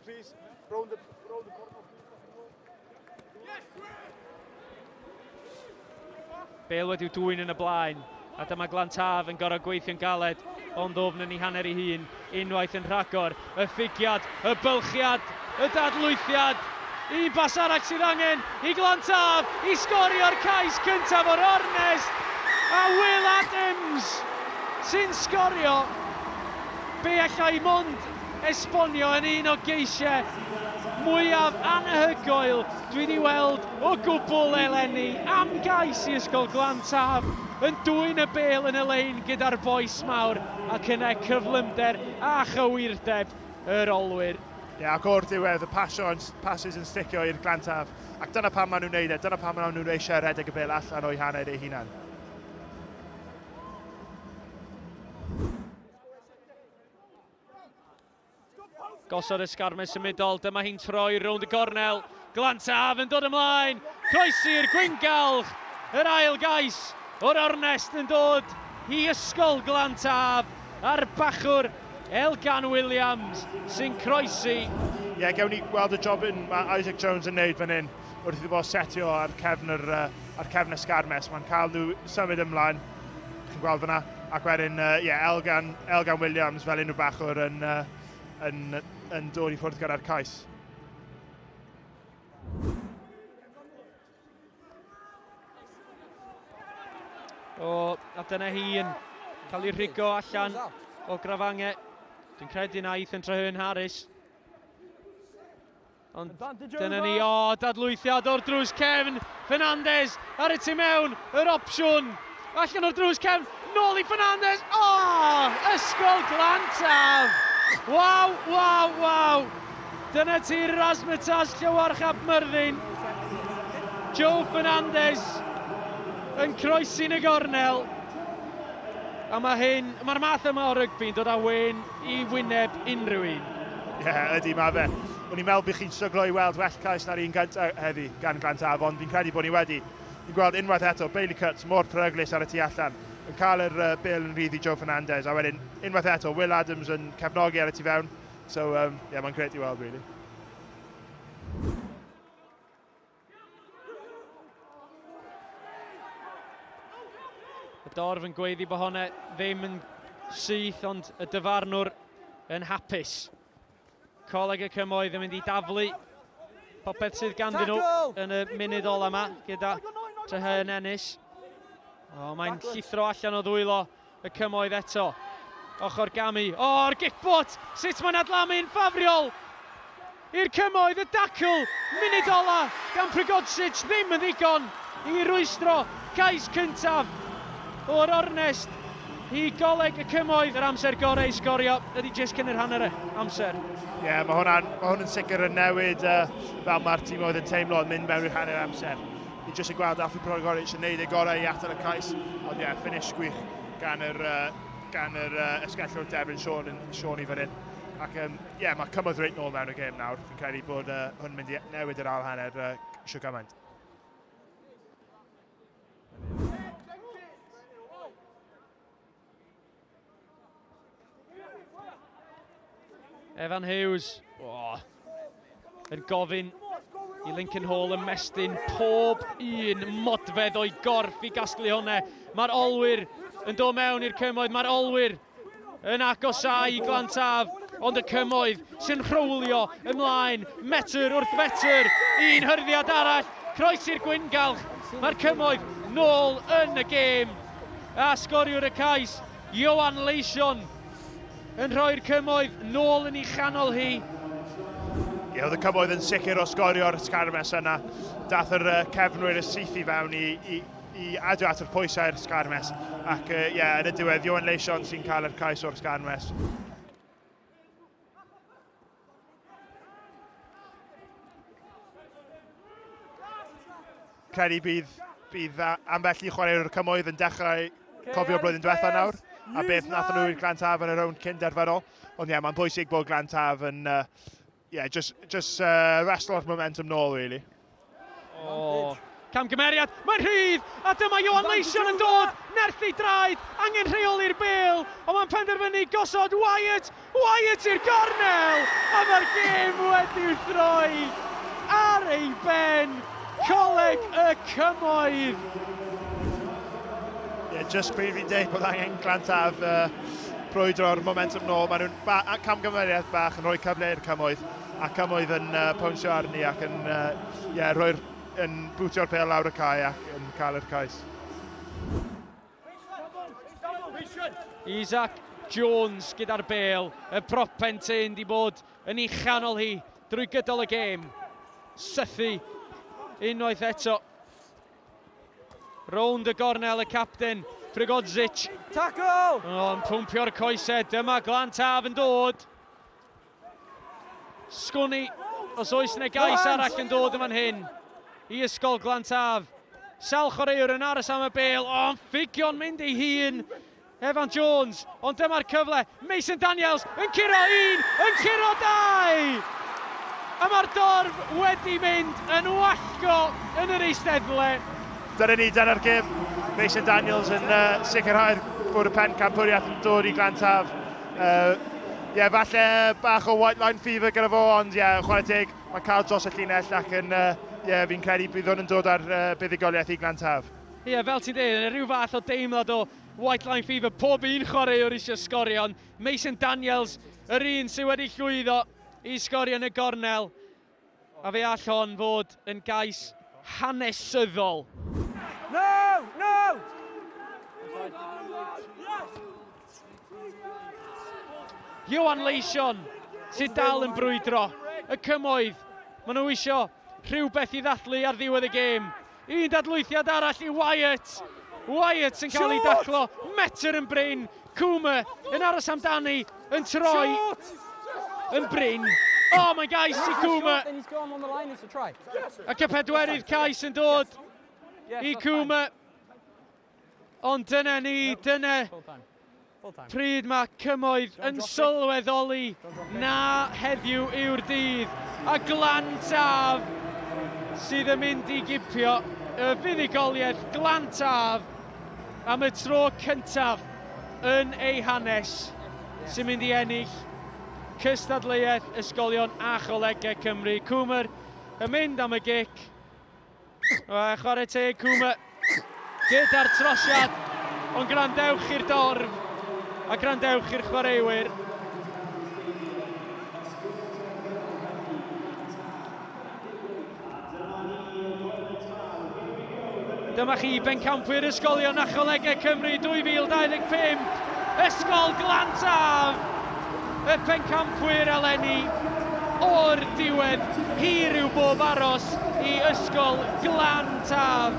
please. Round the, round the corner, please. Bale wedi dwy'n yn y blaen, a dyma Glan Taf yn gorau gweithio'n galed o'n ddofn yn ei hanner ei hun, unwaith yn rhagor, y ffigiad, y bylchiad, y dadlwythiad, un bas arall sydd angen i Glan Taf i sgorio'r cais cyntaf o'r ornest, a Will Adams sy'n sgorio be allai mond esbonio yn un o geisiau mwyaf anhygoel dwi wedi weld o gwbl eleni, am gais i Ysgol Glan Taf yn dwyn y bêl yn y lein gyda'r bois mawr ac yna cyflymder a chywirdeb yr olwyr. Ie, ac o'r diwedd, y pasiwn, pasys yn sticio i'r Glan Taf, ac dyna pam maen nhw'n wneud e, dyna pam maen nhw eisiau rhedeg y bêl allan o'u haned eu hunain. Gosod esgarmau symudol, dyma hi'n troi rownd y gornel. Glantaf yn dod ymlaen, croesi'r gwyngalch, yr ail gais o'r ornest yn dod i ysgol Glantaf a'r bachwr Elgan Williams sy'n croesi. Ie, yeah, gewn ni gweld y job yn mae Isaac Jones yn neud fan hyn wrth iddo fo setio ar cefn, yr, uh, ar cefn esgarmes. Mae'n cael nhw symud ymlaen. chi'n gweld fyna. Ac wedyn, uh, yeah, Elgan, Elgan Williams fel unrhyw bachwr yn, uh, yn, yn dod i ffwrdd gyda'r cais. O, a dyna hi yn cael ei rhigo allan o grafangau. Dwi'n credu na Ethan Trahern Harris. Ond dyna ni, o, dadlwythiad o'r drws cefn, Fernandez ar y tu mewn, yr opsiwn, allan o'r drws cefn, nôl i Fernandez, o, ysgol glantaf! Waw, waw, waw! Dyna ti'r Rasmetas Llywarch Ap Myrddin. Joe Fernandez yn croesi'n y gornel. A mae hyn, mae'r math yma o rygbi'n dod â wen i wyneb unrhyw un. Ie, yeah, ydy, mae fe. O'n i'n meddwl bych chi'n stryglo i weld well cais na'r un gyntaf heddi gan Glant Afon. Fi'n credu bod ni wedi. Fi'n gweld unwaith eto Bailey Cuts mor peryglus ar y tu allan yn cael yr uh, bil yn rhydd i Joe Fernandez a wedyn unwaith eto Will Adams yn cefnogi ar y tu fewn. So, um, yeah, mae'n gret i weld, really. Y dorf yn gweiddi bod hwnna ddim yn syth, ond y dyfarnwr yn hapus. Coleg y Cymoedd yn mynd i daflu popeth sydd ganddyn nhw yn y munud ola yma gyda Tyhau yn ennill. O, mae'n llithro allan o ddwylo Y cymoedd eto. Ochr gamu. O, oh, yr gicbot! Sut mae'n adlamu'n ffafriol! I'r cymoedd, y dacl, munud ola, gan Prigodsic ddim yn ddigon i rwystro cais cyntaf o'r ornest i goleg y cymoedd. Yr amser gorau i sgorio ydy jyst cyn yr hanner amser. Ie, yeah, mae hwnna'n ma hwn yn sicr yn newid uh, fel mae'r tîm oedd yn teimlo yn mynd mewn i'r hanner amser. Ni jyst yn gweld Alfie Progorich yn neud ei gorau i atal y cais, ond ie, yeah, finish gwych gan yr, uh, gan yr uh, esgellwr Devin Sean, Sean i fan hyn. Ac ie, um, yeah, mae cymwyd reit nôl mewn y gêm nawr. Fi'n credu bod uh, hwn mynd i newid yr ail hanner uh, sio gymaint. Evan Hughes. Oh. Yn gofyn i Lincoln Hall ymestyn pob un modfedd o'i gorff i gasglu hwnna. Mae'r olwyr yn dod mewn i'r cymoedd, mae'r olwyr yn agosau i Glantaf, ond y cymoedd sy'n rhywlio ymlaen, metr wrth metr, un hyrddiad arall, croes i'r gwyngalch, mae'r cymoedd nôl yn y gêm. a sgoriwr y cais, Ioan Leision, yn rhoi'r cymoedd nôl yn ei chanol hi. Ie, oedd y cymoedd yn sicr o sgorio'r sgarmes yna. Dath yr cefnwyr y syth i fewn i, i, i adio at yr pwysau'r sgarmes. Ac ie, yeah, yn y diwedd, Ioan Leision sy'n cael yr cais o'r sgarmes. Credu bydd, bydd ambell i chwaraewr cymoedd yn dechrau cofio blwyddyn diwethaf nawr a beth nath nhw i'r Glan Taf yn y rownd cyn derfynol. Ond ie, yeah, mae'n bwysig bod Glan Taf yn uh, yeah, just, just uh, restlor momentum nôl, really. Oh. Camgymeriad, mae'n rhydd, a dyma Johan Leision yn dod, nerthu draed, angen rheoli'r bel, ond mae'n penderfynu gosod Wyatt, Wyatt i'r gornel, a mae'r gêm wedi'i throi ar ei ben, coleg y cymoedd. Yeah, just pryd fi'n deud bod angen glantaf uh, brwydro'r momentum nôl, maen nhw'n ba camgymeriad bach yn rhoi cyfle i'r cymoedd. ac am oedd yn uh, pawnsio arni ac yn, uh, yeah, rhoi'r, yn bwtio'r pel lawr y cae ac yn cael yr cais. Isaac Jones gyda'r bel, y propen tyn di bod yn ei chanol hi drwy gydol y gêm. Sythu unwaith eto. Rownd y gornel y capten, Prigodzic. Tackle! O'n pwmpio'r coesau, dyma Glantaf yn dod. Sgwni, os oes yna gais arall yn dod yn fan hyn i Ysgol Glantaf. Sawl chwaraewr yn aros am y bel, o'n ffugio'n mynd ei hun. Evan Jones, ond dyma'r cyfle. Mason Daniels yn curo un, yn curo dau! A mae'r dorf wedi mynd yn wallgo yn yr eisteddle. Dyna ni, dyna'r gym. Mason Daniels yn uh, sicrhau'r bwrw pen campwriaeth yn dod i Glantaf. Uh, yeah, falle bach o white line fever gyda fo, ond ie, yeah, chwarae teg, mae'n cael dros y llinell ac yn, uh, yeah, fi'n credu bydd hwn yn dod ar uh, buddigoliaeth i Glan Taf. Ie, yeah, fel ti'n dweud, rhyw fath o deimlad o white line fever, pob un chwaraewr eisiau sgorio, ond Mason Daniels, yr un sydd wedi llwyddo i sgorio yn y gornel, A fe all hon fod yn gais hanesyddol. No! No! Iwan Leision sydd dal yn brwydro. Y cymoedd, maen nhw eisiau rhywbeth i ddathlu ar ddiwedd y gêm. Un dadlwythiad arall i Wyatt. Wyatt yn cael ei daclo, metr yn brin. Coomer yn aros amdani, yn troi, yn brin. Oh, mae'n gais i Coomer. Ac y pedwerydd cais yn dod i Coomer. Ond dyna ni, dyna pryd mae cymoedd yn sylweddoli na heddiw yw'r dydd. A glan taf sydd yn mynd i gipio y fuddugoliaeth glan taf am y tro cyntaf yn ei hanes sy'n mynd i ennill cystadleuaeth Ysgolion a Cholegau Cymru. Cwmr yn mynd am y gic. Chwarae teg Cwm gyda'r trosiad, ond gwrandewch i'r dorf a gwrandewch i'r chwaraewyr. Dyma chi bencampwyr Ysgolion Nacholegau Cymru 2025, Ysgol Glantaf! Y pencampwyr eleni, o'r diwedd, hir yw bob aros i Ysgol Glan Taf.